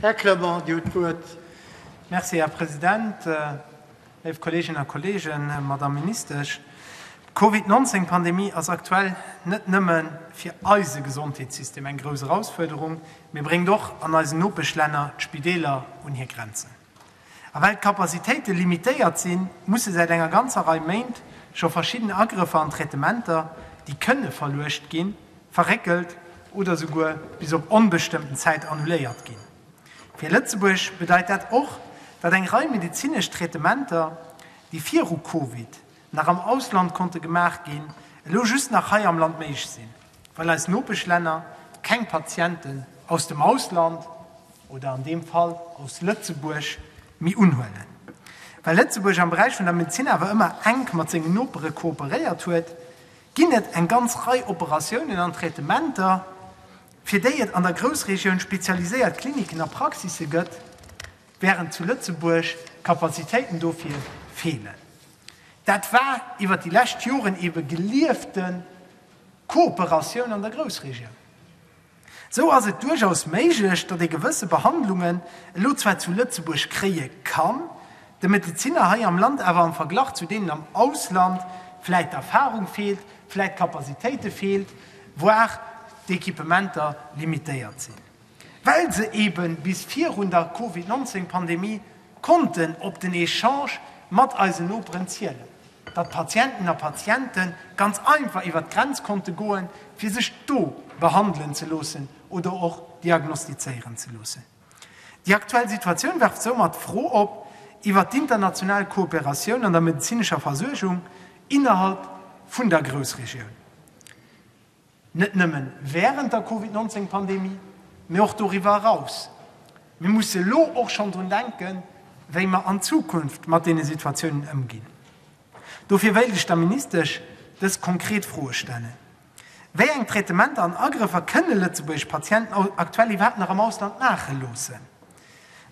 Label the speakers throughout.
Speaker 1: Här Clement, Dir hutt d'Wuert. Merci, Här
Speaker 2: President. Léif Kolleeginnen a Kolleegen, Madame Ministesch, d'Covid 19 Pandemie ass aktuell net nëmme fir eise Gesondheetssystem eng grouss Erausfuerderung, mee bréngt och an eisen Nopeschlänner d'Spideeler un hir Grenzen. A well d'Capacitéite limitéiert sinn, musse säit enger ganzer Rei Méint scho verschidden Agrëffer an Traitementer, déi kënne verluecht ginn, verréckelt oder souguer bis op onbestëmmten Zäit annuléiert ginn. Fir Lëtzebuerg bedeit dat och, datt eng Rei medezinesch Traitementer, déi viru Covid nach am Ausland konnte gemaach ginn, elo just nach hei am Land méiglech sinn, well eis Nopeschlänner keng Patienten aus dem Ausland oder an deem Fall aus Lëtzebuerg méi unhuelen. Well Lëtzebuerg am Beräich vun der Medezin awer ëmmer enk mat sengen Nopere kooperéiert huet, ginn et eng ganz Rei Operatiounen an Traitementer, fir déi et an der Groussregioun spezialiséiert Kliniken a Praxisse gëtt, Wärend zu Lëtzebuerg d'Kapazitéiten dofir feelen. Dat war iwwer déi lescht Joren ebe geliefte Kooperatioun an der Groussregioun. Esou ass et duerchaus méiglech, datt ee gewësse Behandlungen elo zwar zu Lëtzebuerg kréie kann, de Medeziner hei am Land awer am Verglach zu deenen am Ausland vläicht d'Erfarung feelt, vläicht d'Kapazitéite feelt, voire d'Equipementer limitéiert sinn. well se ebe bis virun der Covid 19 Pandemie konnten op den Echange mat eisen Noperen zielen, datt d'Patienten a Patiente ganz einfach iwwer d'Grenz konnte goen, fir sech do behandelen ze loossen oder och diagnostizéieren ze loossen. Déi aktuell Situatioun werft soumat d'Fro op iwwer d'international Kooperatioun an der medezinescher Versuergung innerhalb vun der Groussregioun. Net nëmme wärend der Covid 19 Pandemie, mee och doriwwer eraus. Mir musse elo och schonn drun denken, wéi mer an Zukunft mat deene Situatiounen ëmginn. Dofir wéilt ech der Ministesch dës konkret Froe stellen, Wéi eng Traitementer an Agrëffer kënne lëtzebuergesch Patienten aktuell iwwerhaapt nach am Ausland maache loossen?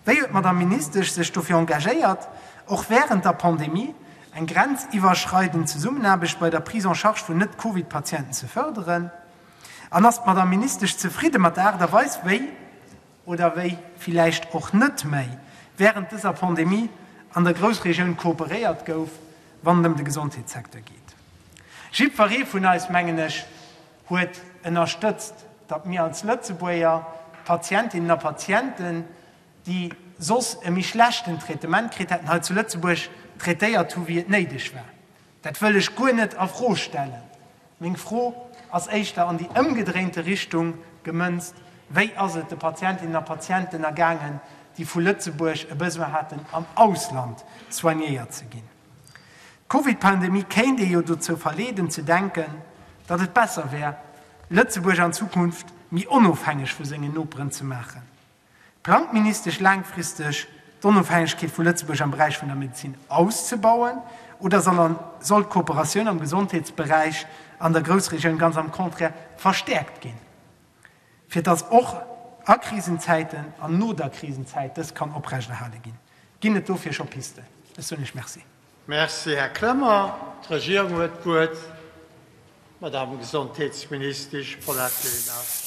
Speaker 2: Wéi huet d'Madamm Ministesch sech dofir engagéiert, och wärend der Pandemie, eng grenziwwerschreidend Zesummenaarbecht bei der Prise en charge vun Net-Covid-Patienten ze fërderen? An ass d'Madamm Ministesch zefridde mat der Aart a Weis, wéi, oder wéi villäicht och net méi, wärend dëser Pandemie an der Groussregioun kooperéiert gouf, wann et ëm de Gesondheetssecteur geet? Jiddweree vun eis, mengen ech, huet ënnerstëtzt, datt mir als Lëtzebuerger d'Patientinnen a Patienten, déi soss e méi schlechten Traitement kritt hätten, hei zu Lëtzebuerg traitéiert hu wéi et néideg war. Dat wëll ech guer net a Fro stellen. Meng Fro ass éischter an déi ëmgedréinte Richtung gemënzt, Wéi ass et de Patientinnen a Patienten ergaangen, déi vu Lëtzebuerg e Besoin haten am Ausland soignéiert ze ginn? D'Covid-Pandemie kéint ee jo dozou verleeden ze denken, datt et besser wär, Lëtzebuerg an Zukunft méi onofhängeg vu sengen Noperen ze maachen. Plangt d'Ministesch laangfristeg d'Onofhängegkeet vu Lëtzebuerg am Beräich vun der Medezin auszebauen oder soll d'Kooperatioun am Gesondheetsberäich an der Groussregioun ganz am Contraire verstäerkt ginn? Fir dass och a Krisenzäiten an no der Krisenzäit dës kann oprechterhale ginn, ginn et dofir scho Pisten. Ech soen Iech Merci. Merci, Här
Speaker 1: Clement. D'Regierung huet d'Wuert. D'Madame Gesondheetsministesch Paulette Lenert.